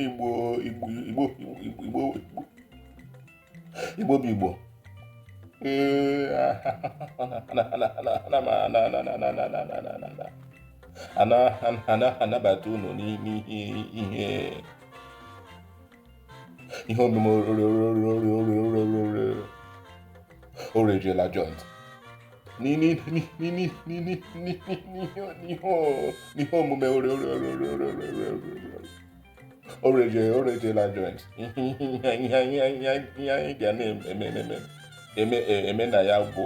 igbo igbo igbo igbo igbo bụ igbo ana anabata unu n'ihe ihe omume o rejuola joint n'ihe omume o rejuola joint ihe anyị ga na-eme na ya bụ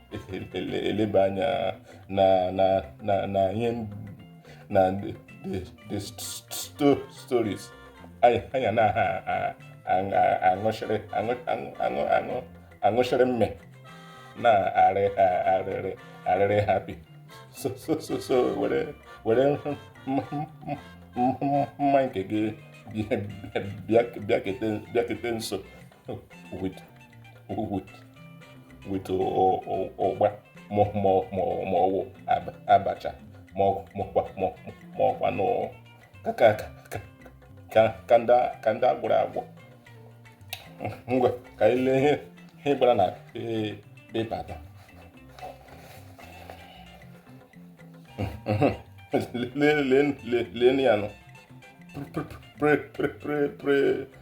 eleba anya na na na na ihe na the stories anyị ana aṅụchịrị aṅụchịrị mme na-arịrị arịrị happy so so so so were were mma nke gị bịakete nso with with with ụgba ma ọ wụ abacha ma ọkwa na ka ndị a gwọrọ agwọ ngwa ka anyị lee ihe ihe gbara na pepa taa lee ya nụ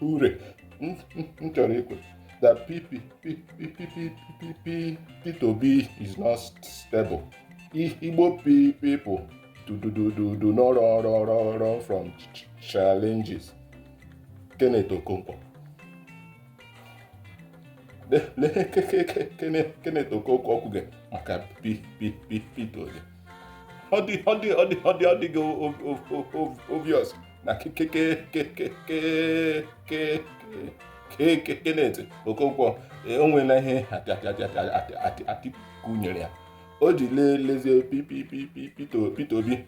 ure m chọrọ ikwe that pipi Peter Obi is not stable Igbo people do not run run run run from challenges Kenneth Okonkwo Kenneth Okonkwo kwuge maka Peter Obi ọ dịghị obvious na Kenneth Okonkwo o nweela ihe Atiku nyere ya o ji lezie Peter Obi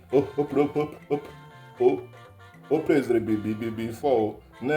o praiseri before na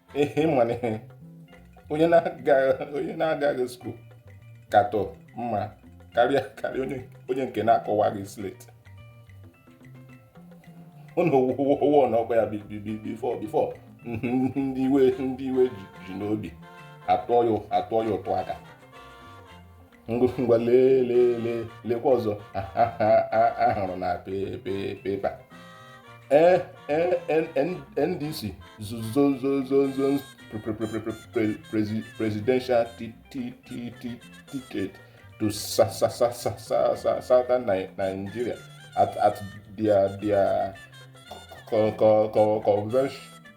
ihe ị ma na ihe onye na-agaghị onye na-agaghị school katọ mma karịa karịa onye onye nke na-akụwaghị slate ụnụ wụwụwụwụ na ọkwa ya bi- bi- bi- before before ndị iwe ndị iwe ji ji n'obi atụọ ya atụọ ya ụtụ aka ngwa lee lee lee lekwa ọzọ a hụrụ na pepa ndc zones presidential ticket to southern nigeria at at their their convention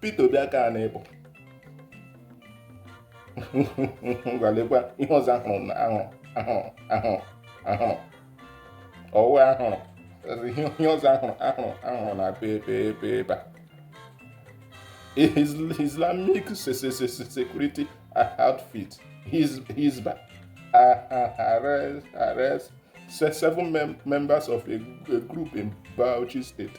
Peter Obi aka a na-ịbụ ngwa lekwa ihe ọzọ ahụrụ na ahụrụ ahụrụ ahụrụ ahụrụ ọ wụ ahụrụ ihe ọzọ ahụrụ ahụrụ ahụrụ na pepa Islamic security outfit Hisbah arrest arrest seven mem members of a, a group in Bauchi State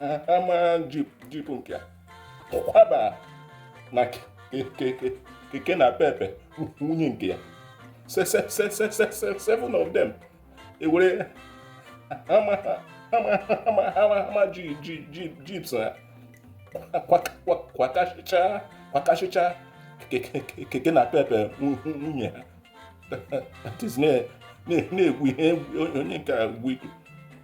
Hummer jeep nke a kwaba na keke napep nwunye nke ya seven of them e were Hummer jeeps ha kwakasịcha keke napep nwunye ha na-egwu ihe onye nke a egwu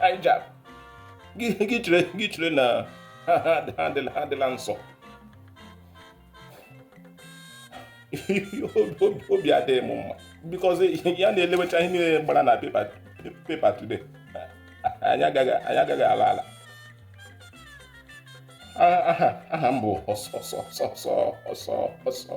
hijab gị chere gị chere na ha adịla nsọ obi adịghị m mma because ya na-elewecha ihe niile gbara na pepa today anyị agaghị ala ala aha m bụ ọsọ ọsọ ọsọ ọsọ ọsọ